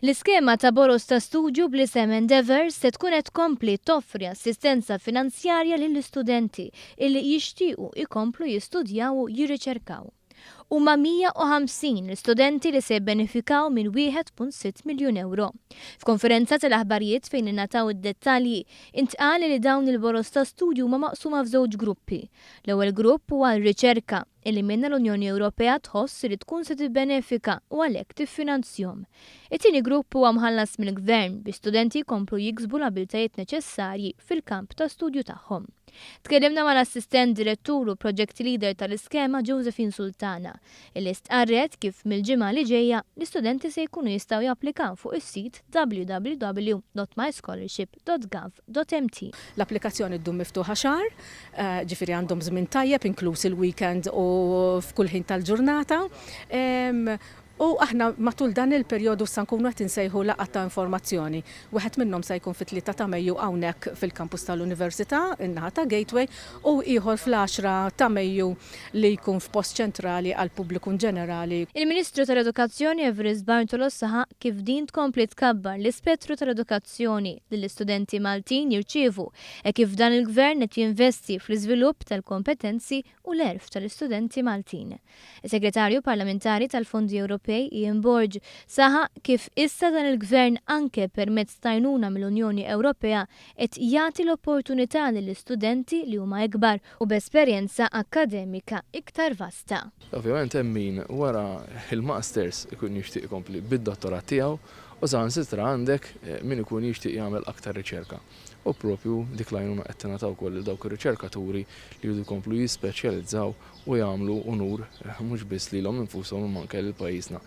L-iskema ta' boroż ta' studju bl-isem Endeavour se tkun qed tkompli toffri assistenza finanzjarja lill-istudenti illi jixtiequ jkomplu jistudjaw u jirriċerkaw. Huma 150 l-istudenti li se jibbenefikaw minn 1.6 miljun ewro. F'konferenza tal-aħbarijiet fejn ingħataw id-dettalji, intqal li dawn il-boroż ta' studju huma maqsuma f'żewġ gruppi. L-ewwel grupp huwa r-riċerka. illi minnha l-Unjoni Ewropea tħoss li tkun se tibbenefika u għalhekk tiffinanzjhom. It-tieni grupp huwa mħallas mill-gvern biex studenti jkomplu jiksbu l-abiltajiet neċessarji fil-kamp ta' studju tagħhom. Tkellimna mal-Assistent Direttur u Project Leader tal-iskema Josephine Sultana, illi stqarret kif mill-ġimgħa li ġejja l-istudenti se jkunu jistgħu japplikaw fuq is-sit www.myscholarship. www.ecommerce.gov.mt. L-applikazzjoni ddum miftuħa xahar, ġifieri għandhom żmien tajjeb inkluż il-weekend u f'kull ħin tal-ġurnata. U aħna matul dan il-perjodu sa nkunu qed insejħu laqgħat ta' informazzjoni. Wieħed minnhom sa jkun fit-Tlieta ta' Mejju hawnhekk fil-Kampus tal-Università, in-naħa ta' Gateway, u ieħor fl-Għaxra ta' Mejju li jkun f'post ċentrali għall-pubbliku inġenerali. Il-Ministru tal-Edukazzjoni Evarist Bartolo saħaq kif din tkompli tkabbar l-ispettru tal-edukazzjoni. l-edukazzjoni li l-istudenti Maltin jirċievu hekk kif dan il-Gvern qed jinvesti fl-iżvilupp tal-kompetenzi u l-għerf tal-istudenti Maltin. Is-Segretarju Parlamentari tal-Fondi Ewropej, Ian Borg, saħaq kif issa dan il-Gvern anke permezz t'għajnuna mill-Unjoni Ewropea qed jagħti l-opportunità lill-istudenti li huma ikbar u b'esperjenza akkademika iktar vasta. Ovvjament hemm min wara l-Masters ikun jixtieq ikompli bid-Dottorat tiegħu u saħansitra għandek min ikun jixtieq jagħmel aktar riċerka. U proprju dik l-għajnuna qed tingħata wkoll lil dawk ir-riċerkaturi li jridu jkomplu jispeċjalizzaw u jagħmlu unur mhux biss lilhom infushom imma anke lil pajjiżna.